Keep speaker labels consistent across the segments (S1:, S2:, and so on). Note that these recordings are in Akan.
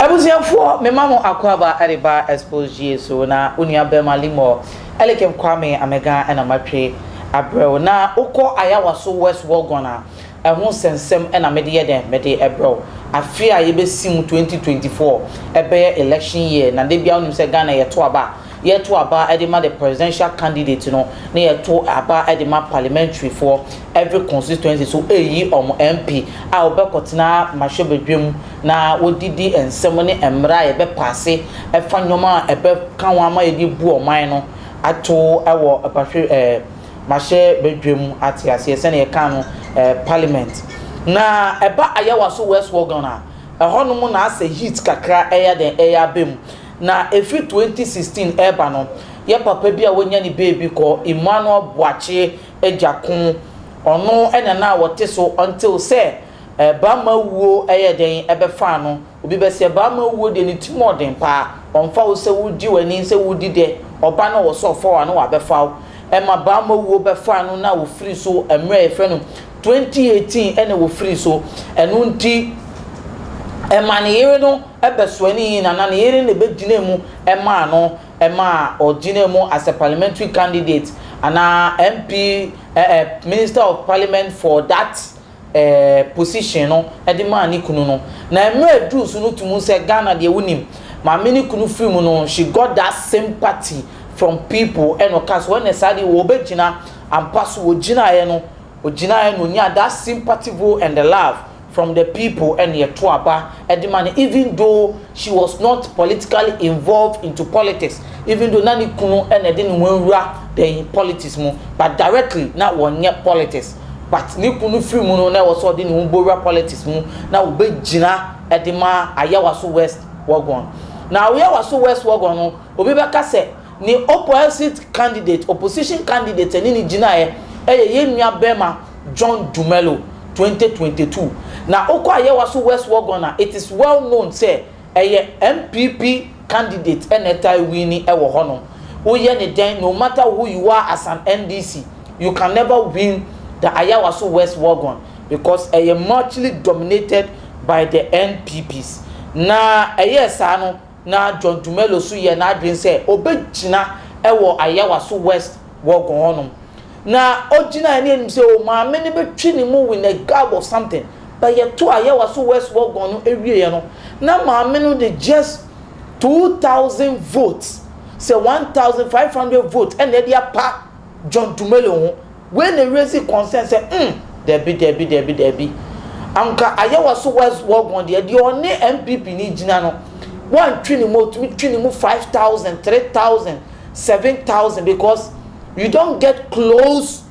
S1: abusuafoɔ mema mo akwaaba de ba expose gye so na onua bɛma limɔ ɛlekem kwame amega ɛna matwe abrɛw na wokɔ ayawa so west wallgon a ɛho nsɛnsɛm ɛna mede yɛ dɛn mede ɛbrɛw afe a yɛbɛsi mu 2024 ɛbɛyɛ election year na da biara wonim sɛ ghana yɛto aba a yɛto aba de ma the presidential candidate no na yɛto aba de ma parliamentary foɔ every constituency so ɛyi wɔn MP a wɔbɛkɔtena mmarahyɛbadwam na wɔdidi nsɛm ne mmara a yɛbɛpaase ɛfa nneɛma a ɛbɛka ho ama yɛde bu ɔman no ato wɔ bahwɛ ɛɛ mmarahyɛbadwam ate aseɛ sɛdeɛ yɛka no ɛɛ parliament na ɛba Ayawa so West Wuogon a ɛhɔnom na asɛ heat kakra ɛyɛ dɛn ɛyɛ aba mu Na ɛfiri 2016 reba no, yɛ papa bi a wanya ne beebi kɔ Emmanuel Boakye agya ko, ɔno na na wɔte so until sɛ Bamma wuo yɛɛ dɛn bɛfaa no. Obi bɛseɛ Bamma wuo deɛ ne ti mu ɔden paa, ɔmfa wo sɛ wogye w'ani sɛ wodi dɛ, ɔba na ɔwɔ sɛ ɔfa wo a na wabɛfa wo. Ɛma Bamma wuo bɛfaa no na ɔfiri so mmerɛ a yɛfrɛ no Twenty eighteen ɛna wɔfiri so ɛno nti ɛma ne yere no bɛsoanii na na ne yere na ɛbɛgyinaa mu maa no ma ɔgyinaa mu as a parliamentary candidate anaa MP eh eh minister of parliament for that eh position no de maa ne kunu no na mmerɛ aduru so no tumu sɛ Ghana deɛ wonim maame ne kunu firi mu no she got that sympathy from people ɛna ɔkaa sɛ ɔnɛ saa deɛ wɔbɛgyina ampa so wɔgyinaeɛ no Ogyinaeɛ na ɔnyaa that sympathivl and the love from the people ɛna yɛto aba de ma no even though she was not politically involved into politics even though na ne kunu ɛna ɛde ne ho awura dɛn politics mu but directly na wɔnyɛ politics but ne kunu firi mu no na ɛwɔ sɛ ɔde ne ho bɔwura politics mu na wɔbɛgyina ɛde ma Ayawaso West Wuogon na Ayawaso West Wuogon no obi bɛka sɛ Ne oppoisit candidate, opposition candidate ɛne no gyinaeɛ ɛyɛ yɛn nua bɛɛma John Dumelo, twenty twenty two. Na wokɔ ayɛwa so West Wuogon a, it is well known sɛ ɛyɛ NPP candidate ɛna ɛtae winni ɛwɔ hɔ nom. Woyɛ ne dɛn, no matter who you are as an NDC, you can never win the Ayawa so West Wuogon because ɛyɛ muchly dominated by the NPPs. Na ɛyɛɛ saa no, Ná John Dumelo nso yɛɛ n'adwene sɛ obegyina wɔ Ayawaso West Wuogon hɔnom. Na ogyinae ne anim sɛ, 'O, Maame no betwi ne mu with a gab of something. But yɛtoo Ayawaso West Wuogon no wieeɛ no, na Maame no de just two thousand votes, sɛ one thousand five hundred votes na ɛde apa. John Dumelo ho, wei na wiase kɔnsɛn sɛ mm, dabi dabi dabi dabi, anka ayɛ wɔ so West Wuogon deɛ, deɛ ɔne NPP no gyina no, woantwe ne mu a ɔtumi twe ne mu five thousand, three thousand, seven thousand because you don't get close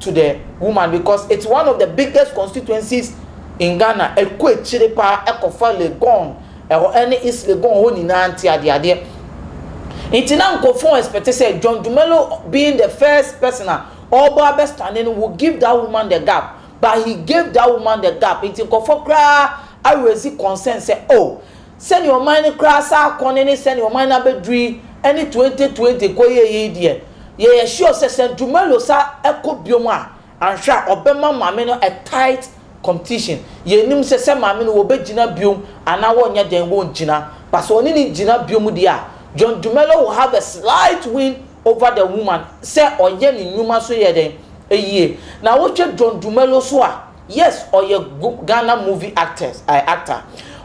S1: to the woman because it's one of the biggest constituencies in Ghana, ɛkɔ akyire paa ɛkɔfa Legon, Ɛhɔ ne Islegon hɔ nyinaa nte adeadeɛ. Nti na nkurɔfoɔ expect sɛ John Dumelo being the first person a ɔbɔ abɛ stande no will give that woman the gap but he gave that woman the gap nti nkurɔfoɔ koraa a raise concern sɛ oh sɛdeɛ ɔman no koraa asan akɔ ne ne sɛdeɛ ɔman no abɛduru yi ne 2020 kɔyɛɛyɛ yi deɛ yɛyɛ sure sɛ sɛ Dumelo sa kɔ biom a Annhwɛ a ɔbɛma maame no a tight competition. Yɛnnim sɛ sɛ maame no wɔbɛgyina biom anaa wɔnyɛ dɛn wɔngyina. But sɛ ɔne no gyina biom deɛ a, John Dumelo will have a slight win over the woman sɛ ɔyɛ ne nnwuma so yɛ dɛn yie. Na wohwɛ John Dumelo so a, yes ɔyɛ Ghana movie actors eh actor.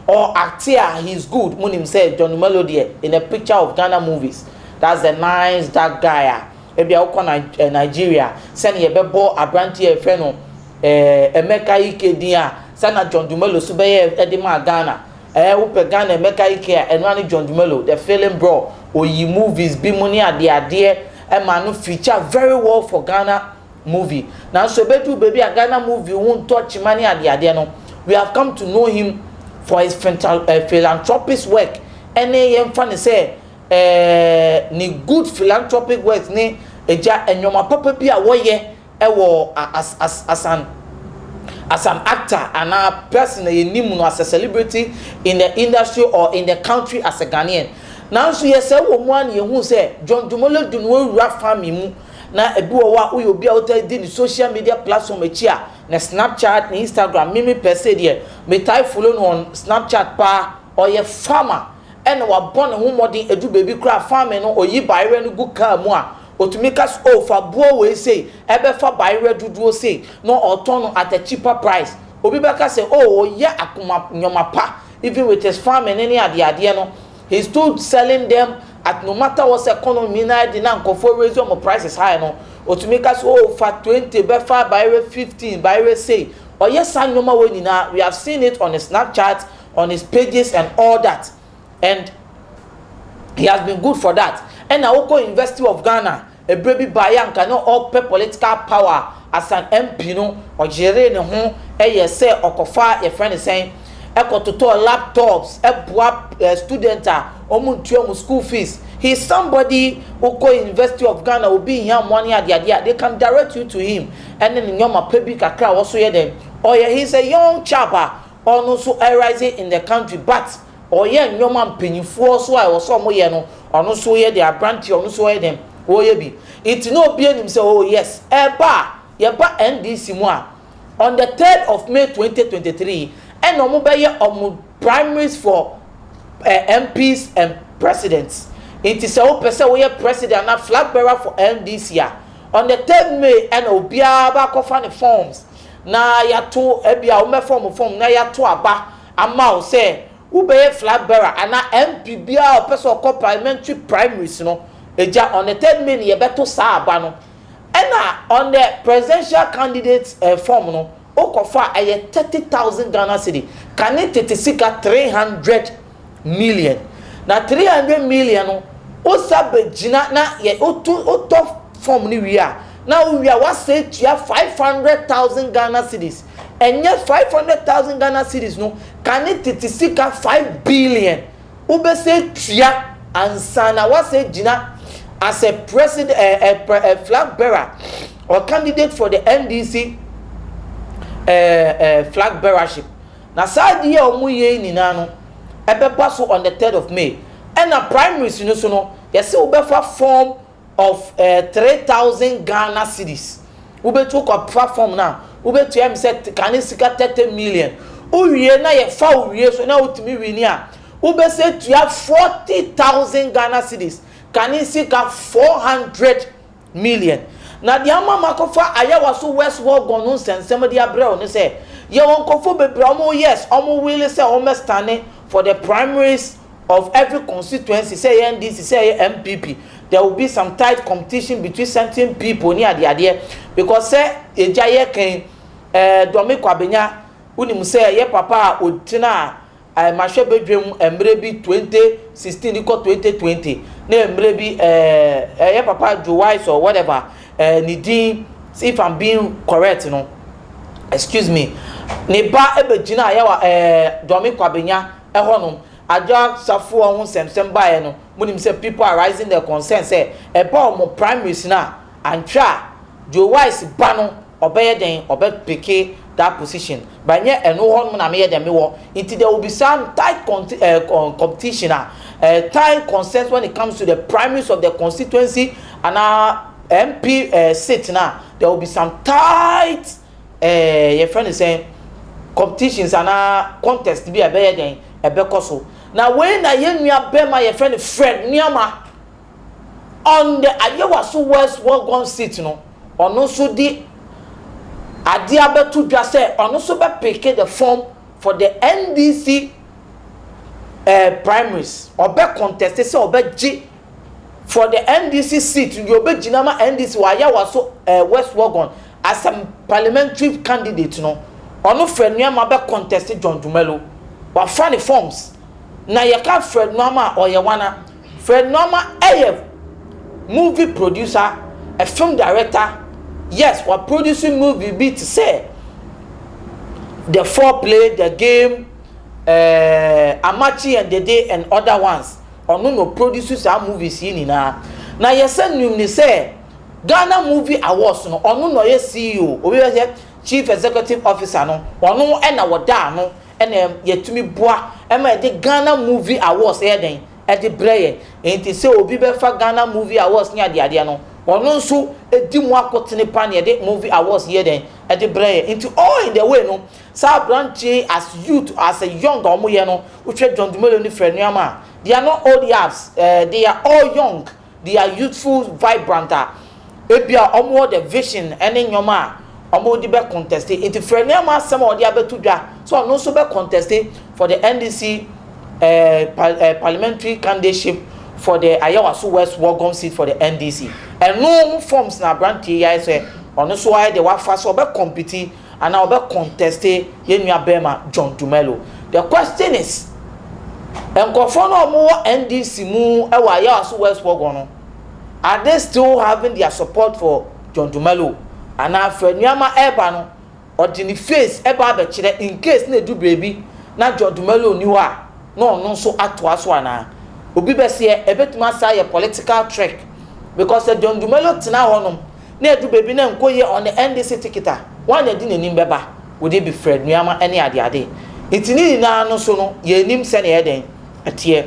S1: Ɔ acte a he is good. Monim sɛ John Dumelo deɛ in a picture of Ghana movies that's the nice dark guy a Ebia wokɔ Nigeria, sɛnea yɛbɛbɔ aberanteɛ a yɛfrɛ no eh, Emeka Ike din a, sɛ na John Dumelo so bɛyɛ de maa Ghana. Eh, wopɛ Ghana Emeka Ike a, ɛno ne John Dumelo, the film bro, oyi movies bi mu ne adeadeɛ ma no feature very well for Ghana movie. Nanso ɛbɛduru baabi a Ghana movie ho ntɔ kyima ne adeadeɛ no, we have come to know him for his eh, philanthropist work ɛne yɛmfa ne sɛ Eeh ne good philanthropic works ne Agya nnoɔma papa bi a wɔyɛ wɔ as an as an actor anaa person a yɛnim no as a celebrity in the industry or in the country as a Ghanaian. Nanso yɛsɛe wɔ mu ara na yɛhunu sɛ John Dumelo de ne ho awura farming mu na ebi wɔ hɔ a woyɛ obi a wotaa di ne social media platform akyi a ne Snapchat ne Instagram me me pɛsɛ deɛ metae follow no on Snapchat paa Ɔyɛ farmer ɛna wabɔ ne ho mmɔden adu baabi koraa farming no ɔyi bayerɛ no gu car mu a ɔtumi ka sɛ oh fa buo wei sei ɛbɛfa bayerɛ dodoɔ sei na ɔretɔn no at a cheaper price. Obi bɛka sɛ oh ɔyɛ akoma nnoɔma pa even with his farming no ne adeɛ adeɛ no he is still selling them at no matter what sɛ economy no ayɛ den na nkorɔfoɔ raise wɔn prices high no ɔtumi ka sɛ oh fa twenty bɛfa bayerɛ fifteen bayerɛ sei. Ɔyɛ saa nnoɔma wei nyinaa we have seen it on his snapchat, on his pages and all that and he has been good for that ɛna wokɔ university of Ghana ɛberɛ bi baeɛ a nka na ɔpɛ political power as an MP no ɔyeree ne ho ɛyɛ sɛ ɔkɔfa yɛfrɛ ne sɛn ɛkɔ totɔɔ laptops ɛboa eh, student a ɔmu ntua mu school fees he is somebody wokɔ university of Ghana obi hia mmoa ne adeade a they can direct you to him ɛne ne nyɔma pɛ bi kakra a wɔso yɛ dɛn ɔyɛ he is a young chap a Ɔno nso rising in the country but ɔyɛ nnoɔma mpanyinfoɔ so a ɛwɔ sɛ ɔmo yɛ no ɔno nso ɔyɛ dɛn abranteɛ ɔno nso ɔyɛ dɛn ɔyɛ bi nti na obiara nim sɛ oh yes ɛɛba a yɛba NDC mu a on the third of May twenty twenty three ɛna ɔmo bɛyɛ ɔmo primaries for eh, MPs and presidents nti sɛ wopɛ sɛ woyɛ president anaa flag bearer for NDC a on the third May ɛna obiara ba akɔfa ne forms na yɛato, ebia wɔbɛfa wɔn fam na yɛato aba ama wo sɛ wobɛyɛ flag bearer anaa MP biara a ɔpɛ sɛ ɔkɔ parliamentary primaries no, egya, on the third May no yɛbɛto saa aba no. Ɛna on the presidential candidate eh, form no, wokɔfa a, ɛyɛ thirty thousand Ghana cedi, kane tete sika three hundred. million na three hundred million no wosa bɛgyina na yɛ woto wotɔ fɔm no wie a na wowie a woasa atua five hundred thousand Ghana cedis ɛnyɛ five hundred thousand Ghana cedis no ka ne tete sika five billion wobɛsa atua ansa na woasa agyina as a president ɛɛ eh, eh, eh, eh, flag bearer or candidate for the NDC ɛɛ eh, eh, flag bearership. Na saa ade yi a wɔn yɛ yi nyinaa no ɛbɛba so on the third of May. Ɛna primaries no so no yɛse wo bɛfa form of eh three thousand Ghana cedis wo bɛtu kɔ fa form no a wo bɛtua ɛm sɛ kane sika thirty million wo wie na yɛ fa wo wie so na wo tumi wini a wo bɛsɛ tua forty thousand Ghana cedis kane sika four hundred Million. Na deɛ ama makɔfa Ayawa so West Wuogon no nsɛnsɛm de abrɛ wo ne sɛ, yɛwɔ nkorɔfoɔ bebree a wɔn yes, wɔn wele sɛ wɔn bɛ stane for the primaries of every constituency, sɛ ɛyɛ NDC, sɛ ɛyɛ NPP, there will be some tight competition between certain people ne adeadeɛ, because sɛ agya yɛka yi, eh, Dormiko Abenya, wonim sɛ ɛyɛ papa a ɔtenaa. eh, mahwɛ badwam mmerɛ bi 2016 kɔ 2020 na mmerɛ bi eh, eh, yɛ papa Joe Wise or whatever eh, ne din if I'm being correct no excuse me ne ba ɛbɛgyina yɛ wa eh, Dɔme Kwabenya ɛhɔnom agya safoɔ ho nsɛmsɛm baeɛ no monim sɛ people are rising their concern sɛ ɛba wɔn primaries no a Anhwɛ a, Joe Wise ba no ɔbɛyɛ dɛn ɔbɛ picke that position but nyɛ ɛno hɔ nom na meyɛ dɛn mewɔ nti there will be some tight competition a time concerns when it comes to the primaries of the constituency anaa MP sit no a there will be some tight yɛfrɛ no sɛn competitions anaa contest bi a ɛbɛyɛ dɛn ɛbɛkɔ so na wei na yɛn nua bɛma yɛfrɛ no Fred Nuamah On the Ayewaso West Wuogon seat no, ɔno nso de adeɛ abɛto dwa sɛ ɔno nso bɛ pick the form for the NDC eh primaries. Ɔbɛ contest sɛ ɔbɛgye for the NDC seat no deɛ ɔbɛgyina ama NDC wɔ Ayawaso eh West Wuogon as a parliamentary candidate no. Ɔno Fred Nuamah bɛ contest John Dumelo. Wafa ne forms. Na yɛka Fred Nuamah a, ɔyɛ wana? Fred Nuama yɛ movie producer, a film director, yes wa produce movie bi te sɛ The Foreplay, The Game, eh, Amakye and Dede and other ones, ɔno na ɔproduce saa movies yi nyinaa. Na yɛsɛ nim ne sɛ Ghana Movie Awards no ɔno na ɔyɛ CEO, obi bɛyɛ sɛ Chief Executive Officer no, ɔno na wɔda ano na yɛtumi boa ma yɛde Ghana Movie Awards yɛ dɛn? de brɛ yɛn. Enti sɛ obi bɛfa Ghana Movie Awards ne adeadeɛ no, ɔno nso di mu akotene pa na yɛde Movie Awards yɛ dɛn? de brɛ yɛn. Enti all in the way no, saa aberanteɛ yi as youth, as a young a wɔyɛ no, wohwɛ John Dumelo ne Frɛ Nuamah, they are not old yaps, eh, they are all young. They are youthful, vibrant a ebia wɔwɔ the vision ne nneɛma a wɔde bɛ conteste. Nti frɛ nneɛma asɛm a ɔde abɛto dwa sɛ ɔno nso bɛ conteste for the NDC eh, eh, parliamentary candidateship for the Ayawaso West Wogom seat for the NDC. Ɛno ho forms na aberanteɛ yi ayɛ sɛ ɔno nso ayɛ deɛ wafa sɛ ɔbɛ compete Anaa ɔbɛ conteste yɛn nua bɛɛma John Dumelo. The question is, nkorɔfoɔ no a ɔmo wɔ NDC mu ɛwɔ Ayawaso West hɔ gɔ no, are they still having their support for John Dumelo? Anaa Fred Nuamah ɛɛba no, ɔde ne face ɛba abɛkyerɛ incase na edu beebi na John Dumelo nni hɔ a, na ɔno nso atoa so anaa? Obi bɛseɛ, ɛbɛtumi asan ayɛ political trick, because sɛ John Dumelo tena hɔ nom, Na edu baabi na nko yɛ ɔne NDC ticket a, wan na ɛde n'anim bɛba, wɔde abi frɛ nnuama ne adeade. Nti ne nyinaa no so no, yɛnnim sɛnea ɛyɛ dɛn? ɛteɛ.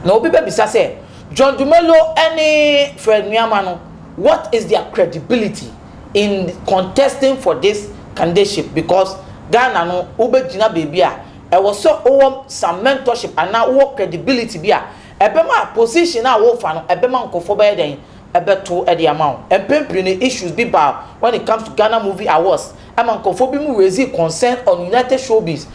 S1: Na obi bɛbisa sɛ, John Dumelo ne Fred Nnuama no, what is their credibility in contesting for this candidateship because Ghana no, wobɛgyina baabi a, ɛwɔ sɛ wowɔ some mentorship anaa wowɔ credibility bi a ɛbɛma position a worefa no, ɛbɛma nkorɔfoɔ bɛyɛ dɛn? bɛto de ama wo. Mpɛn pii no issues bi ba when it comes to Ghana movie awards ɛma nkorɔfoɔ bi mo raising concern on United Showbiz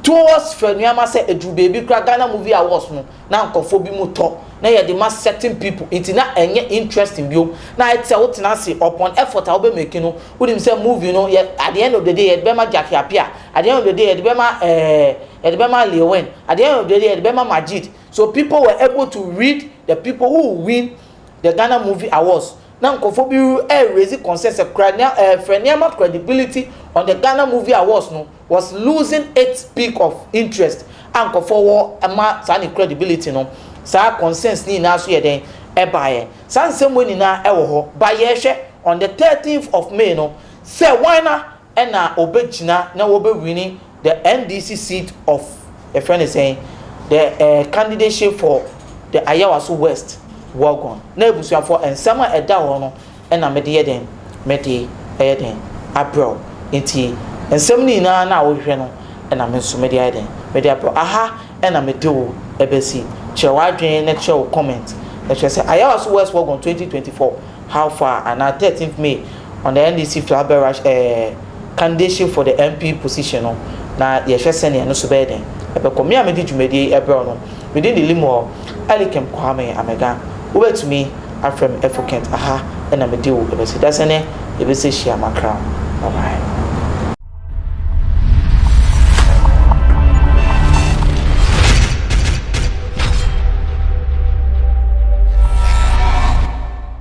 S1: towards fɛ nnoɔma sɛ ɛduru baabi koraa Ghana movie awards no na nkorɔfoɔ bi mo tɔ na yɛde ma certain people nti na ɛnyɛ interesting bio na ayɛ te sɛ wo tena ase upon effort a wo bɛ make no wo nim sɛ movie no yɛ at the end of the day yɛde bɛma Jackie Appiah at the end of the day yɛde bɛma eh yɛde bɛma Leewin at the end of the day yɛde bɛma Majid so people were able to read the people who win the Ghana movie awards na nkorɔfoɔ bi raise concern sɛ kora frɛ nneɛma credibility on the Ghana movie awards no was losing its peak of interest a nkorɔfoɔ wɔ ma saa ne credibility no saa concerns ne nyinaa nso yɛ dɛn ɛbaeɛ saa nsɛm wei nyinaa ɛwɔ hɔ but yɛrehwɛ on the thirteenth of May no sɛ wan na na ɔbɛgyina na wɔbɛwini the NDC seat of yɛfrɛ no sɛn the eh, candidateship for the Ayawaso West Wuogon. Na abusuafoɔ nsɛm a ɛda hɔ no na mede yɛ dɛn? Mede ɛyɛ dɛn? Abrɛ wo. Nti nsɛm no nyinaa no a wohwehwɛ no na me nso mede ayɛ dɛn? Mede abrɛ wo. Aha na mede wo bɛsi. Kyerɛ w'adwene na kyerɛ wo comment na kyerɛ sɛ Ayawaso West Wuogon 2024. How far anaa thirteenth May on the NDC flag bearers eh candidacy for the MP position no na yɛhwɛ sɛnea ɛno so bɛyɛ den ɛbɛkɔ. Me a medi dwumadie yi ɛbrɛw no medin de Limuel Elikim Kwame Amega wobɛtumi afrɛ me Efukent aha na medi wo ɛbɛsi da sɛnɛ yɛbɛsɛ hyia makram bye bye.